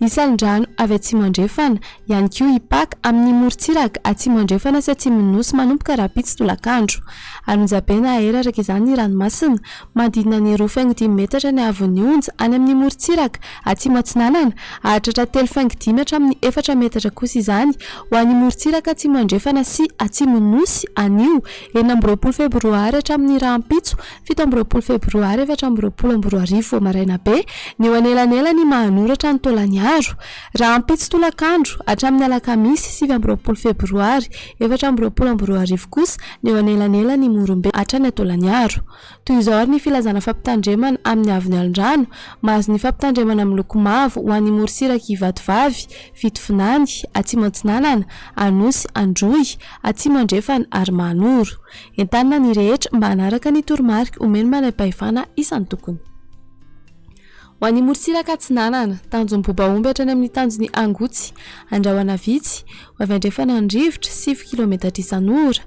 Isalin-drano avy atsimo-andrefana, ihany koa i Pak, amin'ny morontsiraka atsimo-andrefana sy atsimon'ny Nosy manomboka rahampitso tolakandro. Ary onjabe na aera araka izany ny ranomasina, manodidina ny roa faingo dimy metatra ny haavon'ny onja any amin'ny morontsiraka atsimo-atsinanana, hahatratra telo faingo dimy hatramin'ny efatra metatra kosa izany ho an'ny morontsiraka atsimo-andrefana sy atsimon'ny Nosy anio enina amby roapolo febroary hatramin'ny rahampitso Fito amby roapolo Febroary efatra amby roapolo amby roa arivo vao maraina be, ny eo anelanelan'ny maha-anoratra ny taolan'ny aro. Rahampitso tolakandro, hatramin'ny alakamisy sivy amby roapolo Febroary efatra amby roapolo amby roa arivo kosa, ny eo anelanelan'i Imorombe hatrany Antolan'ny aro. Toy izao ary ny filazana fampitandremana amin'ny avon'ny alondrano, Mahazo ny fampitandremana miloko mavo ho an'i Morosiraky Ivatovavy, Fitovinany, Atsimo Atsinanana, Anosy, Androy, Atsimo Andrefana ary Mahanoro. Entanina ny rehetra mba hanaraka ny toromarika omen'ny manampahefana isan-tokony. Ho an'ny morontsiraka atsinanana, tanjon'ny bobaomby hatrany amin'ny tanjon'i Angotsy, Andrahona vitsy, ho avy andrefana ny rivotra, sivy kilometatra isan'ora.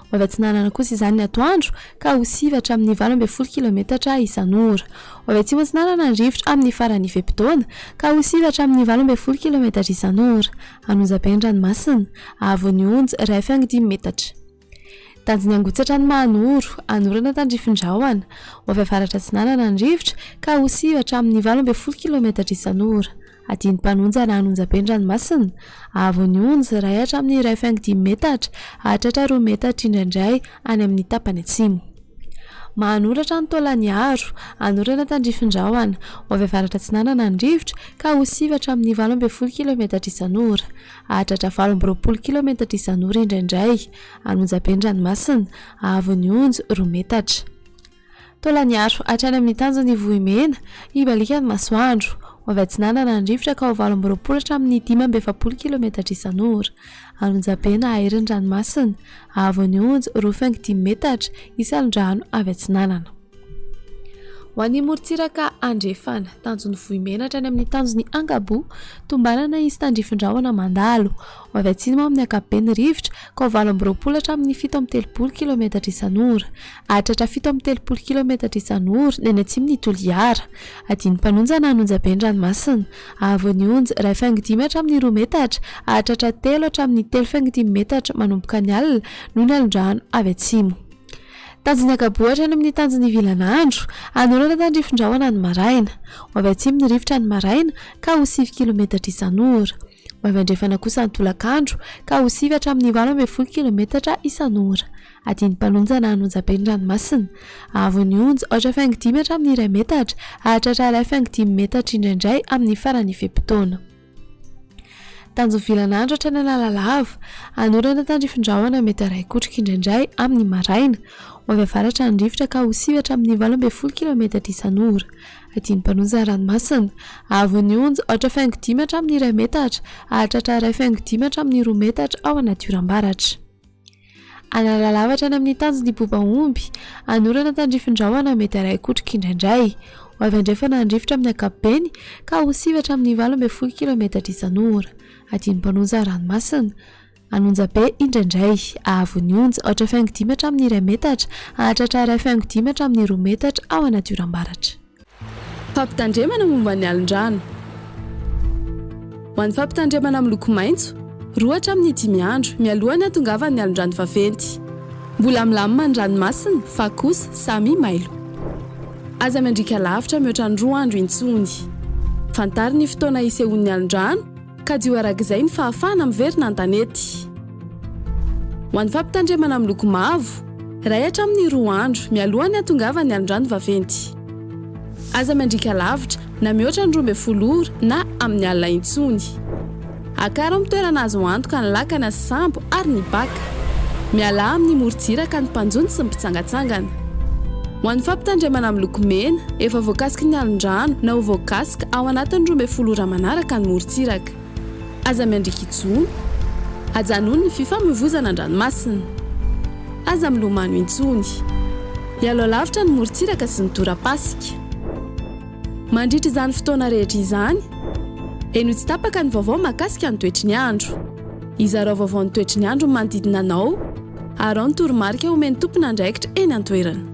Ho avy atsinanana kosa izany ny atoandro, ka ho sivy hatramin'ny valo ambin'ny folo kilometatra isan'ora. Ho avy atsimo-atsinanana ny rivotra amin'ny faran'ny fe-potoana, ka ho sivy hatramin'ny valo ambin'ny folo kilometatra isan'ora. An'Onjabe ny ranomasina, haavon'ny Onja, iray faingo dimy metatra. Tanjony hangotsatra ny mahanoro, hanorana tandrifin-drahona ho avy avaratra-atsinanana ny rivotra ka ho siva hatramin'ny valo ambin'ny folo kilaometatra isan'ora. Adino mpanonja na hanonjabe ny ranomasina, haavo ny onja iray hatramin'ny iray faingo dimy metatra hahatratra roa metatra indraindray any amin'ny tapany atsimo. Mahanoratra ny taolan'ny aro, hanorana tandrifin-drahona ho avy avaratra-atsinanana ny rivotra ka ho siva hatramin'ny valo ambin'ny folo kilaometatra isan'ora. Hahatratra valo amby roapolo kilaometatra izany ora indraindray, any Onjaben-dranomasina, haavon'ny onjo, roa metatra. Taola niaro hatrany amin'ny tanjon'ny vohimena, hibaliaka ny masoandro. Ho avy atsinanana ny rivotra ka ho valo amby roapolo hatramin'ny dimy amby efapolo kilaometatra isan'ora, any Onjabe na hairin'ny ranomasina, haavon'ny onjo, roa faingo dimy metatra, isan'ny rano avy atsinanana. Ho an'ny morontsiraka andrefana, tanjon'ny vohimenatra any amin'ny tanjon'ny Angabu, tombanana izy tandrifindrahona mandalo. Ho avy atsimo ao amin'ny ankapobeny ny rivotra, ka ho valo amby roapolo hatramin'ny fito amby telopolo kilometatra isan'ora. Hahatratra fito amby telopolo kilometatra isan'ora ny any atsimo ny Toliara. Adino mpanonja na anonjabe ny ranomasina. Ahavoa ny onja, iray faingo dimy hatramin'ny roa metatra, hahatratra telo hatramin'ny telo faingo dimy metatra manomboka ny alina, noho ny alondrano avy atsimo. Tanjon'ny ankaboa hatrany amin'ny tanjon'ny ivilan'andro. Hanoratra tandrifin-drahona ny maraina. Ho avy atsimo ny rivotra ny maraina, ka ho sivy kilometatra isan'ora. Ho avy andrefana kosa ny tolakandro, ka ho sivy hatramin'ny valo ambin'ny folo kilometatra isan'ora. Adin'ny mpanonja na anonjam-be ny ranomasina. Haavon'ny onja, ohatra faingo dimy hatramin'ny iray metatra, hahatratra iray faingo dimy metatra indraindray amin'ny faran'ny fe-potoana. Tanjon'ny vilana andro hatrany Analalava. Hanorana tandrifin-drahona mety haray kotrika indraindray amin'ny maraina. Ho avy avaratra ny rivotra ka ho siva hatramin'ny valo ambin'ny folo kilaometatra isan'ora. Adin'ny mpanonja ny ranomasina. Haavon'ny onja, aotra faingo dimy hatramin'ny iray metatra. Hahatratra iray faingo dimy hatramin'ny roa metatra ao anaty oram-baratra. Hanala lavatra any amin'ny tanjy ny boba omby, hanorana tandrifin-drahona mety haray kotroka indraindray. Ho avy andrefana handrifotra amin'ny ankapobeny ka ho siva hatramin'ny valo ambin'ny folo kilaometatra isan'ora. Adino mpanonja ranomasina. Hanonja be indraindray. Ahavo ny onja, aotra faingo dimy hatramin'ny iray metatra, hahatratra haray faingo dimy hatramin'ny roa metatra ao anaty oram-baratra. Fampitandremana momba ny alin-drano. Ho an'ny fampitandremana miloko maitso, roa hatramin'ny dimy andro mialoha ny hatongavan'ny alin-drano vaventy. Mbola milamina ny ranomasina fa kosa samy mailo. Aza miandriaka lavitra mihoatra ny roa andro intsony. Fantaro ny fotoana hisehoan'ny alin-drano. Kajiho araka izay ny fahafahana miverina an-tanety. Ho an'ny fampitandremana miloko mavo, iray hatramin'ny roa andro mialohan'ny hahatongavan'ny alondrano vaventy. Aza miandriaka lavitra na mihoatra ny roa ambin'ny folo ora na amin'ny alina intsony. Akaro amin'ny toerana azo antoka ny lakana sy sambo ary ny baka. Mialà amin'ny morontsiraka ny mpanjono sy ny mpitsangatsangana. Ho an'ny fampitandremana amin'ny loko mena, efa voakasiky ny alin-drano na ho voakasika ao anatin'ny roa ambin'ny folo ora manaraka ny morontsiraka. Aza miandriaka intsony. Ajanony ny fifamoivoizana an-dranomasina. Aza milomano intsony. Hialao lavitra ny morontsiraka sy ny tora-pasika. Mandritra izany fotoana rehetra izany, henoy tsy tapaka ny vaovao mahakasika ny toetry ny andro. Izarao vaovao ny toetry ny andron'ny manodidina anao. Arao ny toromarika omen'ny tompon'andraikitra eny an-toerana.